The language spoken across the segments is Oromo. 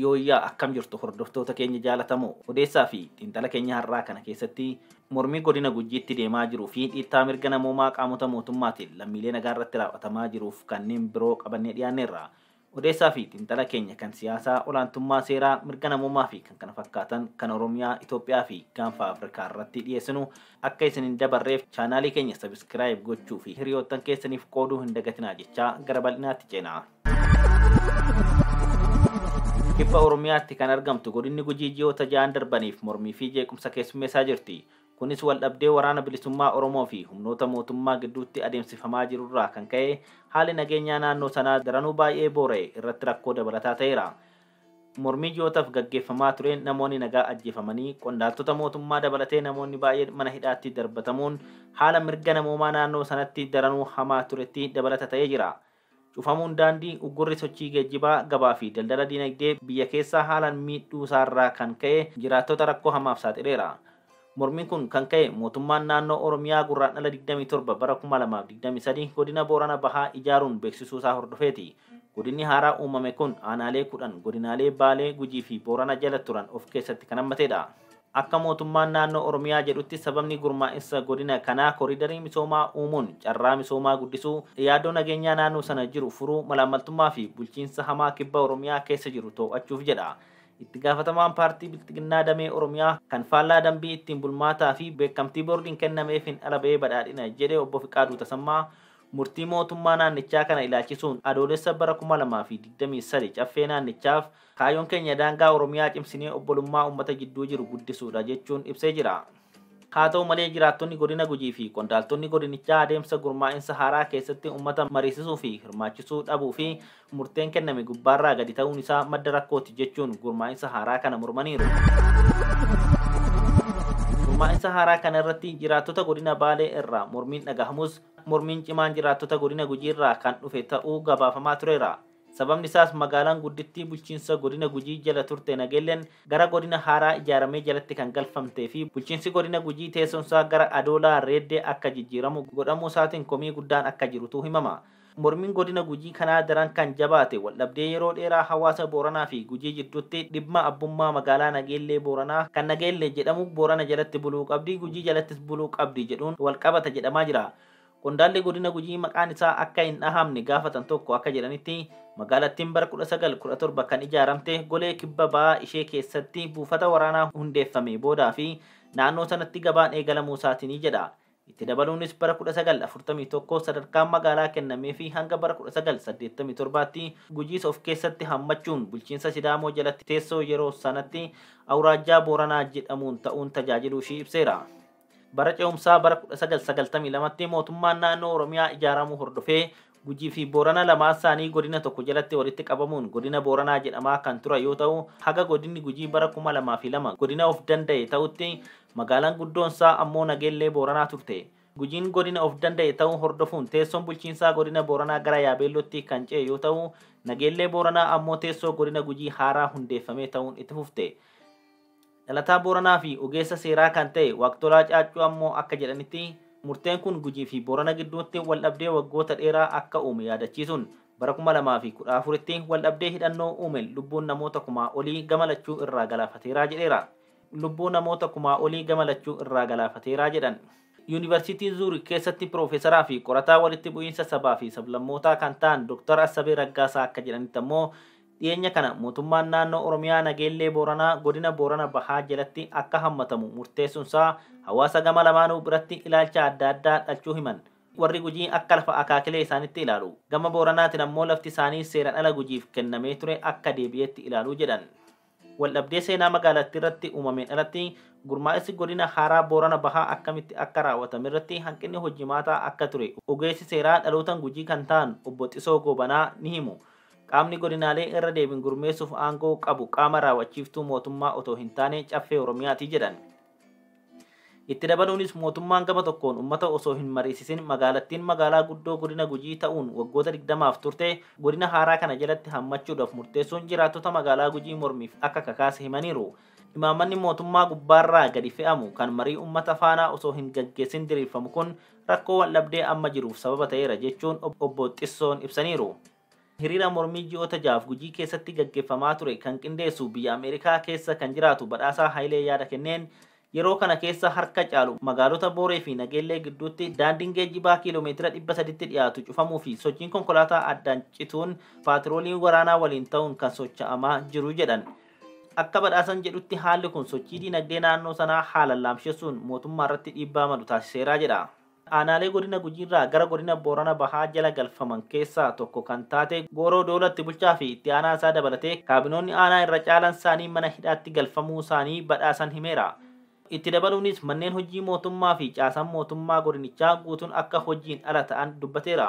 Yooyyaa akkam jirtu hordoftoota keenya jaalatamoo odeessaa fi xiinxala keenya har'aa kana keessatti mormii godina Gujiitti deemaa jiruu fi dhiittaa mirga namoomaa qaamota mootummaatiin lammiilee nagaa irratti raawwatamaa jiruuf kanneen biroo qabannee dhiyaanneerra. Odeessaa fi xiinxala keenya kan siyaasaa, olaantummaa seeraa, mirga namoomaa fi kkf kan Oromiyaa, Itoophiyaa fi Gaanfa Afrikaa irratti dhiyeessinu akka isin hin dabarreef chaanaalii keenya subscribe gochuu fi hiriyoottan keessaniif qooduu hin dagatinaa jechaa gara bal'inaatti ceena. Kibba Oromiyaatti kan argamtu godinni Gujii ji'oota ja'an darbaniif mormii fi jeequmsa keessummeessaa jirti. Kunis waldhabdee Waraana Bilisummaa Oromoo fi humnoota mootummaa gidduutti adeemsifamaa jiru irraa kan ka'e haalli nageenyaa naannoo sanaa daranuu baay'ee boora'e irratti rakkoo dabalataa ta'eera. Mormii ji'ootaf gaggeeffamaa tureen namoonni nagaa ajjeefamanii, qondaaltota mootummaa dabalatee namoonni baay'een mana hidhaatti darbatamuun haala mirga namoomaa naannoo sanatti daranuu hamaa turetti dabalata ta'ee jira. Cufamuun daandii uggurri sochii geejjibaa, gabaa fi daldala dinagdee biyya keessaa haalaan miidhuu isaa irraa kan ka'e jiraattota rakkoo hamaaf saaxileera. Mormiin kun kan ka'e mootummaan naannoo Oromiyaa Gurraandhala 27 bara 2023 godina Boorana Bahaa ijaaruun beeksisuu isaa hordofeeti. Godinni haaraa uumame kun aanaalee 10 godinaalee Baalee, Gujii fi Boorana jala turan of keessatti kan hammateedha. Akka mootummaan naannoo Oromiyaa jedhutti sababni gurmaa'insa godina kanaa koriidarii misoomaa uumuun carraa misoomaa guddisuu, yaaddoo nageenyaa naannoo sana jiru furuu, malaammaltummaa fi bulchiinsa hamaa kibba Oromiyaa keessa jiru too'achuuf jedha. Itti gaafatamaan paartii Bilxiginnaa damee Oromiyaa kan faallaa dambii ittiin bulmaataa fi beekamtii boordiin kennameefiin ala ba'ee badhaadhina jedhe obbo Fiqaaduu Tasammaa murtii mootummaa naannichaa kana ilaalchisuun Adoolessa bara 2023 caffee naannichaaf Kaayyoon keenya daangaa Oromiyaa cimsinee obbolummaa uummata jidduu jiru guddisuudha jechuun ibsee jira. Haa ta'u malee jiraattonni Godina Gujii fi qondaaltonni godinichaa adeemsa gurmaa'insa haaraa keessatti uummata mariisisuu fi hirmaachisuu dhabuu fi murteen kenname gubbaarraa gadi ta'uun isaa madda rakkooti jechuun gurmaa'insa haaraa kana mormaniiru. Gurmaa'insa haaraa kana irratti jiraattota Godina Baalee irraa mormiin dhagahamus mormiin cimaan jiraattota Godina Gujii irraa kan dhufe ta'uu gabaafamaa tureera. Sababni isaas magaalaan guddittii bulchiinsa godina Gujii jala turte Nageelleen gara godina haaraa ijaaramee jalatti kan galfamtee fi bulchiinsi godina Gujii teessoon isaa gara Adoolaa, Reeddee akka jijjiiramu godhamuu isaatiin komii guddaan akka jirutu himama. Mormiin godina Gujii kanaa daran kan jabaate waldhabdee yeroo dheeraa hawaasa Booranaa fi Gujii jidduutti dhibma abbummaa magaalaa Nageellee Booranaa kan Nageellee jedhamu Boorana jalatti buluu qabdi, Gujii jalattis buluu qabdi jedhuun walqabata jedhamaa jira. Qondaalli godina Gujii maqaan isaa akka hin dhahamne gaafatan tokko akka jedhanitti magaalattiin bara 1917 kan ijaaramte golee kibba ba'aa ishee keessatti buufata waraanaa hundeeffamee boodaa fi naannoo sanatti gabaan eegalamuu isaatiini jedha. Itti dabaluunis bara 1941 sadarkaan magaalaa kennamee fi hanga bara 1987tti Gujiis of keessatti hammachuun bulchiinsa Sidaamoo jalatti teessoo yeroo sanatti Awuraajjaa Booranaa jedhamuun ta'uun tajaajiluu ishii ibseera. Bara ce'umsaa bara 1992tti mootummaan naannoo Oromiyaa ijaaramuu hordofee Gujii fi Boorana lamaan isaanii godina tokko jalatti walitti qabamuun godina Booranaa jedhamaa kan turan yoo ta'u, haga godinni Gujii bara 2002 godina of danda'e ta'utti magaalaan guddoon isaa ammoo Nageellee Booranaa turte. Gujiin godina of danda'e ta'uu hordofuun teessoon bulchiinsaa godina Booranaa gara Yaabeellootti kan ce'e yoo ta'u, Nageellee Booranaa ammoo teessoo godina Gujii haaraa hundeeffamee ta'uun itti fufte. Dhalataa Booranaa fi ogeessa seeraa kan ta'e Waaqtolaa Caaccuu ammoo akka jedhanitti, murteen kun Gujii fi Boorana gidduutti waldhabdee waggoota dheeraa akka uume yaadachiisuun, bara 2014tti waldhabdee hidhannoo uumeen lubbuun namoota kumaa olii gama lachuu irraa galaafateera jedheera. Lubbuu namoota kumaa olii gama lachuu irraa galaafateera jedhan. Yuunivarsiitii Zuurik keessatti piroofeesaraa fi qorataa walitti bu'iinsa sabaa fi sablammootaa kan ta'an Doktar Assabee Raggaasaa akka jedhanitti ammoo, Dhiyeenya kana mootummaan naannoo Oromiyaa Nageellee Booranaa godina Boorana Bahaa jalatti akka hammatamu murteessunsaa hawaasa gama lamaanuu biratti ilaalcha adda addaa dhalchuu himan. Warri Gujii akka lafa akaakilee isaanitti ilaalu. Gama Booranaatiin ammoo lafti isaanii seeran ala Gujiif kennamee ture akka deebi'eetti ilaalu jedhan. Waldhabdee seenaa magaalattiirratti uumameen alatti gurmaa'insi godina haaraa Boorana Bahaa akkamitti akka raawwatamerratti hanqinni hojimaataa akka ture ogeessi seeraa dhalootan Gujii kan ta'an Obbo Xisoo Goobanaa ni himu. Qaamni godinaalee irra deebiin gurmeessuuf aangoo qabu qaama raaw'achiiftuu mootummaa otoo hin taane Caffee Oromiyaati jedhan. Itti dabaluunis mootummaan gama tokkoon ummata osoo hin mariisisin magaalattiin magaalaa guddoo godina Gujii ta'uun waggoota 20f turte godina haaraa kana jalatti hammachuudhaf murteessuun jiraattota magaalaa Gujii mormiif akka kakaase himaniiru. Imaammanni mootummaa gubbaarraa gadi fe'amu kan marii ummata faana osoo hin gaggeessin diriirfamu kun rakkoo waldhabdee amma jiruuf sababa ta'eera jechuun Obbo Xissoon ibsaniiru. Hiriira mormii ji'oota ja'aaf Gujii keessatti gaggeffamaa ture kan qindeessu biyya Ameerikaa keessa kan jiraatu Badhaasaa Hayilee yaada kenneen, yeroo kana keessa harka caalu magaalota Booree fi Nageellee gidduutti daandiin geejjibaa kiiloo meetira 300tti dhiyaatu cufamuu fi sochiin konkolaataa addaan cituun paatirooliin waraanaa waliin ta'uun kan socha'amaa jiru jedhan. Akka Badhaasan jedhutti haalli kun sochii diinagdee naannoo sanaa haalan laamshessuun mootummaarratti dhiibbaa malu taasiseera jedha. Aanaalee Godina Gujiirraa gara Godina Boorana Bahaa jala galfaman keessaa tokko kan taate Gooroo Doolatti bulchaafi itti aanaasaa dabalatee kaabinoonni aanaa irra caalansaanii mana hidhaatti galfamuusaanii Badhaasan himeera. Itti dabaluunis manneen hojii mootummaafi caasaan mootummaa godinichaa guutuun akka hojiin ala ta'an dubbateera.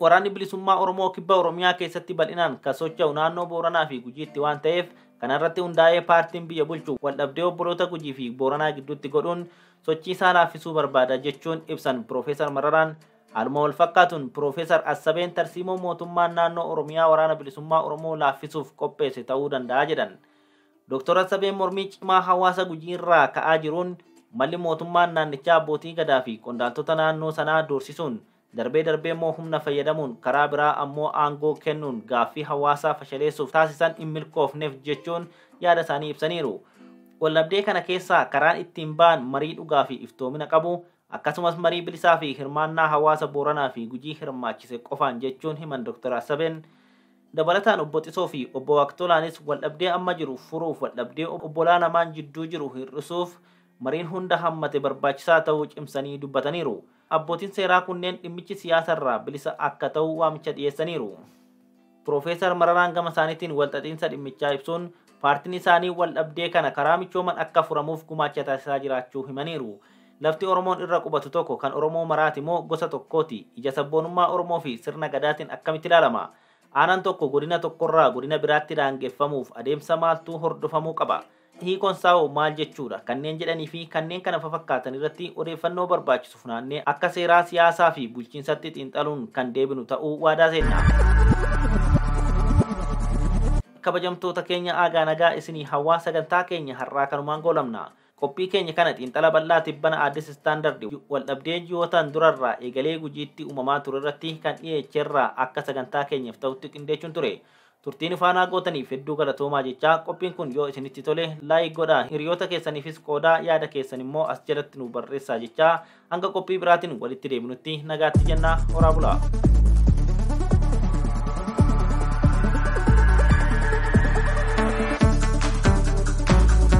Waraanni Bilisummaa Oromoo Kibba Oromiyaa keessatti bal'inaan kan socho'u naannoo Booranaa fi Gujiitti waan ta'eef kana irratti hundaa'ee paartiin biyya bulchu waldhabdee obboloota Gujii fi Booranaa gidduutti godhuun sochii isaa laaffisuu barbaada jechuun ibsan Piroofeesar Mararaan. Haaluma wal fakkaatuun Piroofeesar Assabeen tarsiimoo mootummaan naannoo Oromiyaa Waraana Bilisummaa Oromoo laaffisuuf qopheesse ta'uu danda'a jedhan. Dooktor Assabeen mormii cimaa hawaasa Gujii irraa ka'aa jiruun malli mootummaan naannichaa abbootii gadaa fi qondaaltota naannoo sanaa doorsisuun Darbee darbeemmoo humna fayyadamuun, karaa biraa ammoo aangoo kennuun gaaffii hawaasaa fashaleessuuf taasisan hin milkoofneef jechuun yaada isaanii ibsaniiru. Waldhabdee kana keessaa karaan ittiin ba'an marii dhugaa fi iftoomina qabu, akkasumas marii bilisaa fi hirmaannaa hawaasa Booranaa fi Gujii hirmaachise qofaan jechuun himan Doktar Asabeen. Dabalataan Obbo Xisoo fi Obbo Waaqtolaanis waldhabdee amma jiru furuuf waldhabdee obbolaa lamaan jidduu jiru hir'isuuf mariin hunda hammate barbaachisaa ta'uu cimsanii dubbataniiru. Abbootiin seeraa kunneen dhimmichi siyaasa irraa bilisa akka ta'u waamicha dhiyeessaniiru. Piroofeesar Mararaan gama isaaniitiin walxaxiinsa dhimmichaa ibsuun paartiin isaanii waldhabdee kana karaa michooman akka furamuuf gumaacha taasisaa jiraachuu himaniiru. Lafti Oromoon irra qubatu tokko kan Oromoo maraati moo gosa tokkooti? Ija sabboonummaa Oromoo fi sirna Gadaatiin akkamitti ilaalama? Aanaan tokko godina tokkorraa godina biraatti daangeffamuuf adeemsa maaltu hordofamuu qaba? Hiikoon isaa hoo maal jechuu dha? Kanneen jedhanii fi kanneen kana fafakkaatan irratti odeeffannoo barbaachisu funaannee akka seeraa, siyaasaa fi bulchiinsatti xiinxaluun kan deebinu ta'uu waadaa seenna. Kabajamtoota keenya aagaa nagaa isinii hawwaa sagantaa keenya har'aa kanumaan goolabna. Qophii keenya kana xiinxala bal'aa tibbana Addis Standard waldhabdee ji'ootaan dura irraa eegalee Gujiitti uumamaa ture irratti kan dhiyeecherraa akka sagantaa keenyaf ta'utti qindeechuun ture. Turtii nu faanaa gootaniif hedduu galatoomaa jechaa qophiin kun yoo isinitti tole like godhaa hiriyoota keessaniifis qoodaa yaada keessan immoo as jalatti nuuf barreessaa jechaa hanga qophii biraatiin walitti deebinutti nagaatti jennaa horaa bulaa.